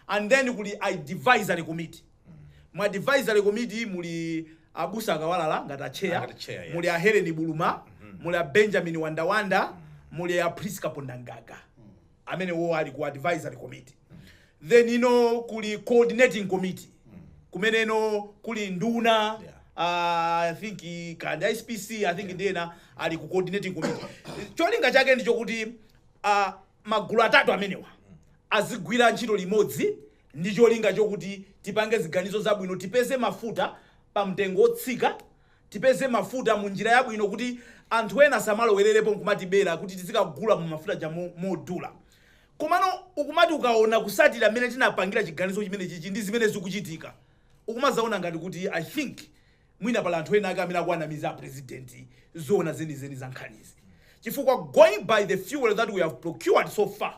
and then kuli advisory committee mu advisory committee muli abusa a Kawalala ngati atcheya Ngati chair, yes. muli a helen buluma muli a benjamin wandawanda muli a priska pondangaga amenewo ali ku advisory committee then ino kuli coordinating committee kumeneno kuli nduna Yeah. ah, i think i- kaya ndi SPC i think ndi ena ali ku coordinating committee cholinga chake ndichokuti ah, magulu atatu amenewa azigwira ntchito limodzi ndi cholinga chokuti tipange ziganizo zabwino tipeze mafuta pa mtengo wotsika Tipeze mafuta mu njira yabwino kuti anthu ena asamalowererepo nkumatibera kuti tizikagula mu mafuta aja modula. Komano ukumati ukaona kutsatira mmene tinapangira chiganizo chimenechichi ndi zimene zikuchitika, ukumazaona ngati kuti I think mwina pali anthu ena ake amene akuwanamiza a president zoona zenizeni za nkhanizi chifukwa going by the fuel that we have procured so far,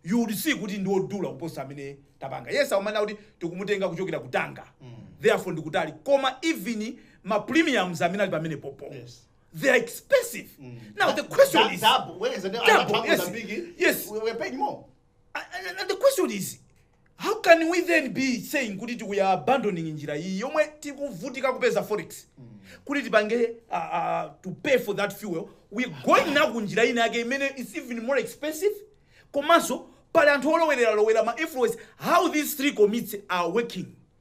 you would see kuti ndi odula kuposa amene tapanga yes aumana kuti tikumutenga kuchokera ku Tanga therefore ndikutali koma even ma premiums amene ali pamenepopo Yes. they are expensive now the question is Double, whereas the Double, other yes, Mozambique, yes. we- we're paying more. and- and- and the question is How can we then be saying kuti tiku- we are abandoning njira iyi yomwe tikuvutika kupeza forex kuti tipange uh, uh, to pay for that fuel we going now ku njira ina yake imene is even more expensive komanso pali anthu olowerera lowera ma influence how these three committees are working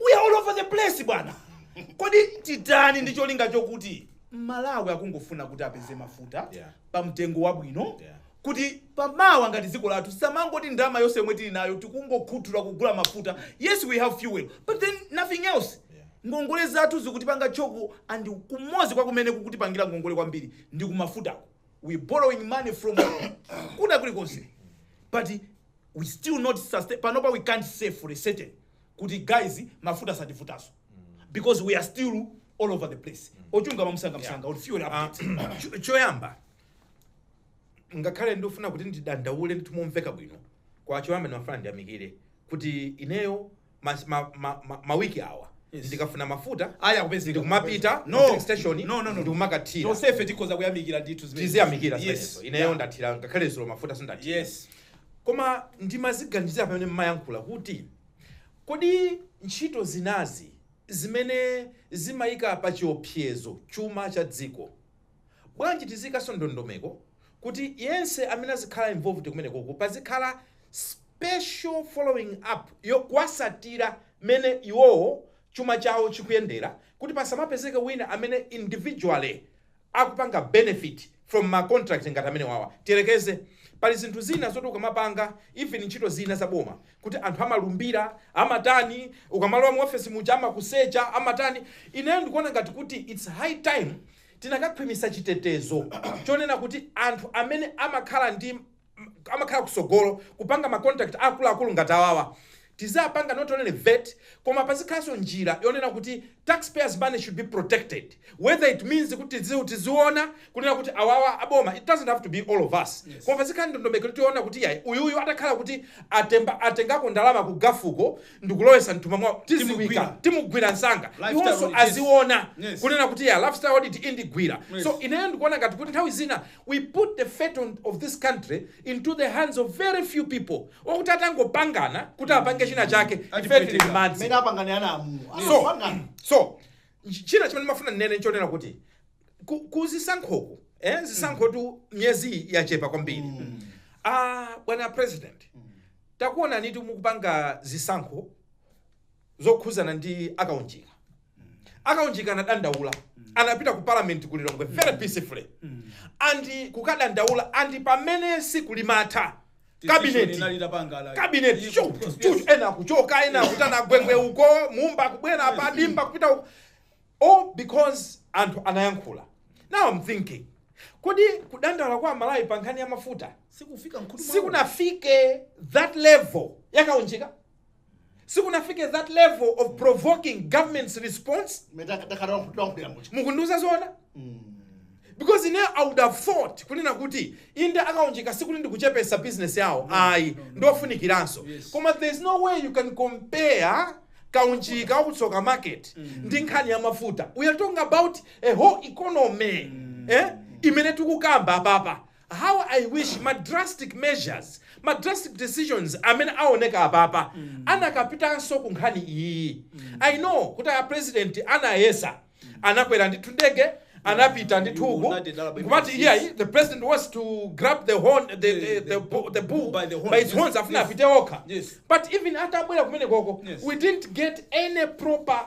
we are all over the place bwana kodi titani ndi cholinga chokuti malawi angofuna kuti apeze mafuta Yeah. pa mtengo wabwino Yeah. kuti pamawa ngati dziko lathu samangoti ndalama yonse yomwe tili nayo tikungokhuthula kugula mafuta yes we have fuel but then nothing else Yeah. ngongole zathu zikutipanga choke and kumodzi kwa kumene kukutipangira ngongole kwambiri ndi kumafutako we borrowing money from kwina kulikonse but we still not sustain panopa we can't say for a certain kuti guys mafuta satifutanso because we are still all over the place ochunga mamsanga msanga or fuel Ah, update cho- choyamba ngakhale ndifuna kuti ndidandaule ndithu momveka bwino kwa choyamba ndimafuna ndiyamikire kuti ineyo mas- ma- ma- ma- mawiki awa Yes. ndikafuna mafuta aya akupezeka ndikumapita No. filling station No, no, no, no. ndikumakathira tonsefe tikhoza kuyamikira ndithu zimene- tiziyamikira Yes. zimenezo ineyo Yeah. ndathira ngakhale zulo mafuta sindathira yes Koma ndimaziganizira pamene mmayankhula kuti kodi ntchito zinazi zimene zimayika pa chiopsezo chuma cha dziko bwanji tiziyikanso ndondomeko kuti yense amene azikhala involved kumenekoko pazikhala special following up yokuwatsatira mene iwowo chuma chawo chikuyendera kuti pasamapezeke wina amene individually akupanga benefit from ma contract ngati amenewawa tiyerekeze pali zinthu zina zoti ukamapanga even ntchito zina za boma kuti anthu amalumbira amatani ukamalowa mu office muja amakusecha amatani ineyo ndikuona ngati kuti it's high time tinakakhwimisa chitetezo chonena kuti anthu amene amakhala ndi amakhala kusogolo kupanga ma contract akuluakulu ngati awawa tizipanga not only vet koma pazikhalanso njira yonena kuti tax payers money should be protected whether it means kuti tizi- tiziona kunena kuti awawa aboma it doesn't have to be all of us koma pazikhala ndondomeko kuti tiona kuti yayi uyuyu atakhala kuti atemba atengako ndalama ku gafuko ndikulowesa mthumba mwawo tidziwike Timugwira. timugwira msanga Lifestyle iwonso audit, yes. aziona Yes. kunena kuti ya lifestyle audit indigwira Yes. so ineyo ndikuona ngati kuti nthawi zina we put the fate of this country into the hands of very few people okuti atangopangana kuti apange china chake ife tili Atipweteka. mmadzi Mene apangane ana amu. so Apangane. so ch- china chimene mafuna nnene nchonena kuti ku- kuzisankhoku eh, zisankhotu myezi yachepa kwambiri ah, bwana president takuonanitu mukupanga zisankho zokhuzana ndi akaunjika akaunjika anadandaula anapita ku parliament ku lilongwe very peacefully andi kukadandaula andi pamene siku limatha kabineti kabineti cho cho ena akuchoka ena akutani gwengwe uko mumba akubwera apa dimba kupita uko all because anthu anayankhula now i'm thinking kodi kudandaula kwa amalawi pa nkhani ya mafuta sikufika mkhutu mwawo. sikunafike that level yakaunjika sikunafike that level of provoking government's response metatakadawankhuliramuchi mukundiuza zoona because ine i would have thought kunena kuti inde akaunjika sikuti ndikuchepesa business yawo ayi ndofunikiranso Yes. koma there is no way you can compare kaunjika wa ku tsoka market ndi nkhani ya mafuta we are talking about a whole economy eh? imene tikukamba apapa How I wish ma drastic measures, ma drastic decisions amene awoneka apapa anakapitanso ku nkhani iyiyi. I know kuti a president anayesa, anakwera ndithu ndege, anapita ndithu uku, nkumati iyayi, the president wants to grab the horn, the, the, the, the, bu- the bull by, its horns, afuna apite okha. But even atabwera kumenekoko, we didn't get any proper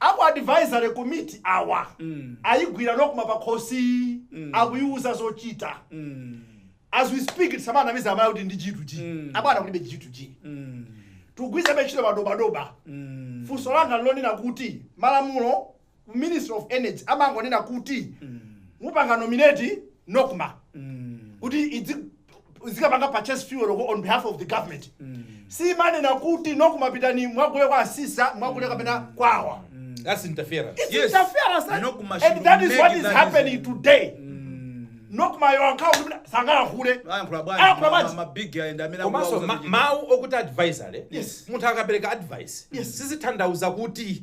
Aku advisory committee awa ayigwira nocma pakhosi akuyiwuza zochita as we speak tisamanamize amalawi kuti ndi G2G abwana kulibe G2G tikugwiritsabe ntchito madobadoba funso langa nlonena kuti malamulo ku ministry of energy amangonena kuti mupanga nominate nocma kuti idzi zikapanga purchase fuel on behalf of the government simanena kuti nocma pitani mwagule kwa asisa mwagule kapena kwawa That's interference. It's Yes. interference, that- Nocma and should that is make what is that happening is- today nocmayo ankhawo kuti mna- sangalankhule ayankhula bwanji Ayankhula ma- bwanji. ma- mabig ayenda amene komanso akuwauza ma- kuti- mawu okuti advisory Yes. munthu akapereka advice Yes. sizithandauza kuti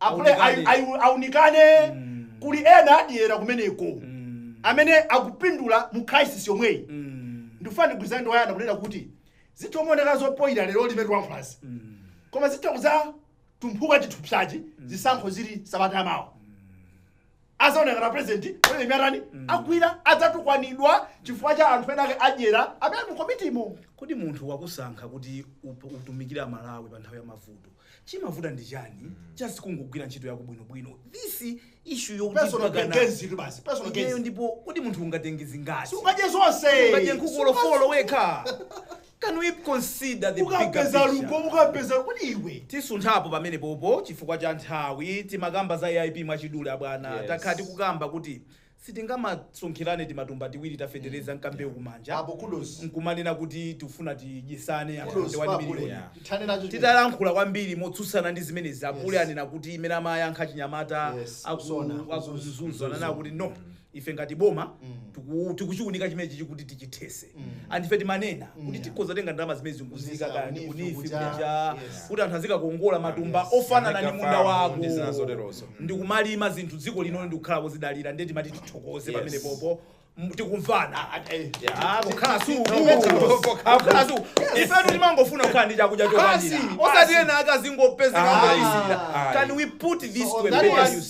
Apule ai, Aunikane. ai, aunikane Mm. kuli ena adyera kumeneko Mm. amene akupindula mu crisis yomweyi Mm. ndifuna ndigwirizane ndi wayana kunena kuti zitha kumaoneka zopoyira lero limene tilankhulazi Mm. koma zitha kudzatumphuka chithupsachi zisankho zili sabata yamawa azaoneka ngati apresidenti pamene imene atani agwira adzatukwanidwa chifukwa cha anthu ena ake adyera amene ali mu komitimo kodi munthu wakusankha kuti up- utumikire aMalawi pa nthawi ya mavuto chimavuta ndi chani just kungogwira ntchito yako bwinobwino this issue yokuti personal mpakana- gains itu basi personal Iyeyo gains ndipo kodi munthu ungatenge zingati sungadye zonse ungadye nkhuku olo folo wekha Can we consider the bigger picture? Tisunthapo pamenepopo chifukwa cha nthawi, timakamba za AIP mwachidule abwana. Takhala tikukamba kuti sitingamasonkherane timatumba tiwiri ta fetereza nkambewu kumanja nkumanena kuti tikufuna tidyetsane anthu 21 miliyoni. Titalankhula kwambiri motsutsana ndi zimenezi, Apule anena kuti imene amayankha achinyamata aku ku Mzuzu ananena kuti no, ife ngati boma Mm. tiku- tikuchiunika chimenechi chikuti tichithese Mm. and ife timanena kuti yeah. tikhoza tenga ndalama zimenezi Kuzisa kuziika kaya ndi ku NEEF, ku NEEF kuja. kuja Yes. kuti anthu azikakongola matumba Yes. ofanana ndi Manika munda farm wako ndi zina zoterozo. ndi kumalima zinthu dziko lino ndi kukhala wozidalira ndiye timati tithokoze Yes. pamene popo m- tikumvana Ah, kukhala su kukhala su ifetu timangofuna kukhala ndi chakudya chokwanira Basi, osati basi. ena akazingopezeka Ah, ngoizira ah. can we put this So on to a that better one, use?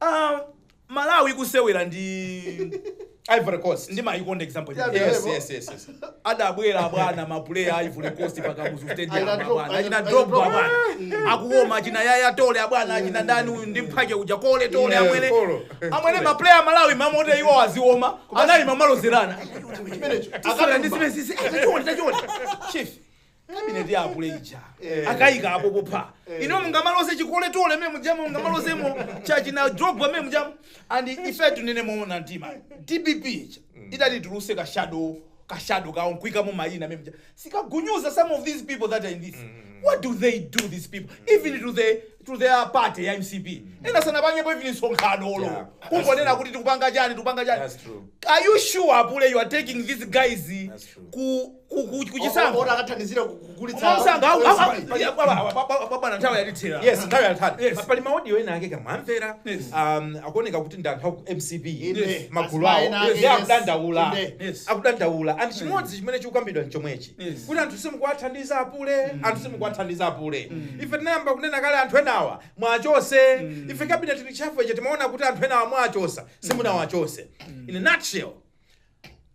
Ah, malawi ikusewera ndi ivory coast ndimayikonda example Yeah, imene. yes, yes, yes, yes. adabwera bwana mapuleya a ivory coast pa Kamuzu stadium Aina drop- abwana achina aina- drogba aina drop. abwana akuwoma achina Yaya Toure abwana achina ndani uyu ndi mphwake uja kole tole Yeah, amwene Kolo. amwene mapuleya amalawi mamote iwo aziwoma anali amalozerana Chimenecho. akala ndi zimene sisi tachiona tachiona chief cabinet ya apule ija akayika apo popha inu mungamaloze chi Kolo Toure mene mujamo mungamalozemo cha achina drogba mene mujamo and ife tinene moona mtima dpp ija itati ituluse ka shadow ka shadow kawo nkuikamo mayina mene muja sikagunyuza some of these people that are in this what do they do these people even to the to their party ya mcp ena sanapangepo even msonkhano olo Yeah, that's kungonena true. kuti tikupanga chani tikupanga chani That's true. are you sure apule you are taking these guys That's true. ku ku- ku- ku chisankho olo akathandizira ku- kugulitsa mwamsanga au- au- au- Pali- ya, baba, baba, baba, baba, na nthawi yatithera yes nthawi yatithera Yes. pali maaudio ena ake kaya mwamvera Yes. um, akuoneka kuti ndi anthu aku mcp Inde. magulu awo Asmaina, Yes. ndi yes. akudandaula Inde. Yes. akudandaula anthu chimodzi chimene chikukambidwa nchomwechi Yes. kuti anthu simukuwathandiza apule anthu simukuwathandiza apule ife tinayamba kunena kale anthu enawa muwachose ife kabineti reshuffle icho timaona kuti anthu enawa muwachose simunawachose in a nutshell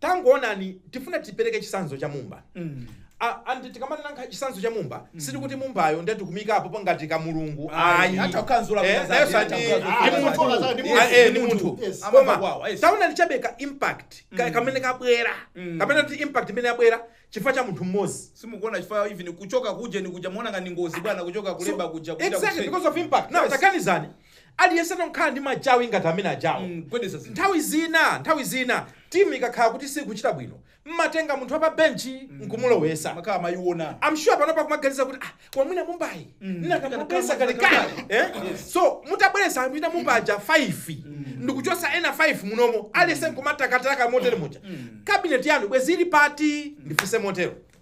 tangoonani tifuna tipereke chisanzo cha mumba Mm. A- and tikamanena chisanzo cha mumba sitikuti mumbayo ndiye tikumuikapo pangati ka mulungu Ayi, ayi hata kukanzula Eh, kukaza- nayenso hata ndi- kukanzula ndi kukaza- munthu. kukaza- ndi Yes, munthu. eh, ndi Ndi munthu. munthu. Yes. Koma, Amava kwawo, yes. taonani chabe ka impact ka- kamene kabwera Mm. kapena kuti impact imene yabwera chifukwa cha munthu mmodzi simukuona chifukwa even kuchoka kuja ni kuja muona ngati ngozi bwana kuchoka ku Labour kuja kuja exactly kutseka. because of impact now Yes. takanizani Aliyense nkukhala ndi machawi ngati amene ajawo. mm, gwedeza zinthu. Nthawi zina nthawi zina timu ikakhala kuti sikuchita bwino mmatenga munthu wapa bench nkumulowesa. Mwakhala mumayiona. I'm sure panopa kumaganiza kuti ah koma mwina mumbayi ndinakamubweresa kale kale eh? so mutabweresa mwina mumbaja 5 ndikuchosa ena 5 munomo aliyense nkumatakataka motere muja cabinet yanu bwezi ili pati ndifuse motero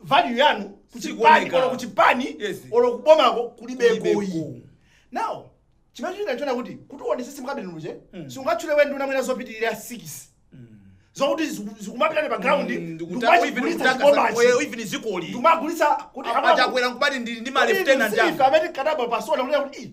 value yanu kuchipani Sikuoneka. olo kuchipani Yes. olo kubomako kulibeko Kulibeko. iyi now chimene ndinachiona kuti kuti uonesese mu cabinet muja Mm. siungatchule wena nduna mwina zopitirira 6 zokuti ziku- zikumapitani pa ground ndikumachigulitsa chibomachi even zikoli ndikumagulitsa kuti a Chakwera nkubati ndi ndi ma lieutenant anu amene kadaba pasona kuti kuti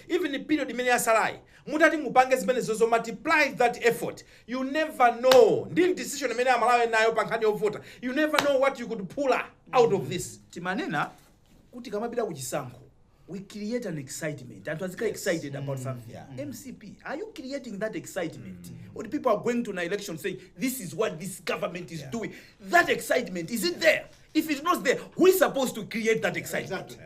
even period imene yasalayi mutati mupange zimenezozo multiply that effort you never know ndi decision imene amalawi ali nayo pa nkhani yovota you never know what you could pull out of this timanena kuti kamapita ku chisankho we create an excitement anthu azikhala excited about something mcp are you creating that excitement or people are going to an election saying this is what this government is doing that excitement is it there if it's not there who is supposed to create that excitement Exactly.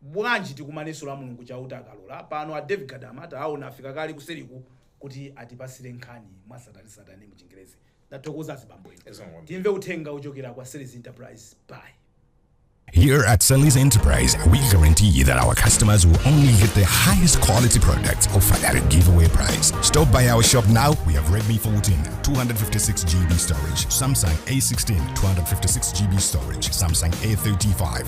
Bwanji tikumanenso la Mulungu Chauta akalola. Pano a David Gadama taawona afika kale kuseliku kuti atipasile nkhani mwasatanesatane mu chingerezi. Ndathokoza azibambo inu. Timve uthenga ochokera kwa Sally's Enterprise bye. Here at Sally's Enterprise, we guarantee that our customers will only get the highest quality products offered at a giveaway price. Stop by our shop now. We have Redmi 14, 256 GB storage, Samsung A16, 256 GB storage, Samsung A35,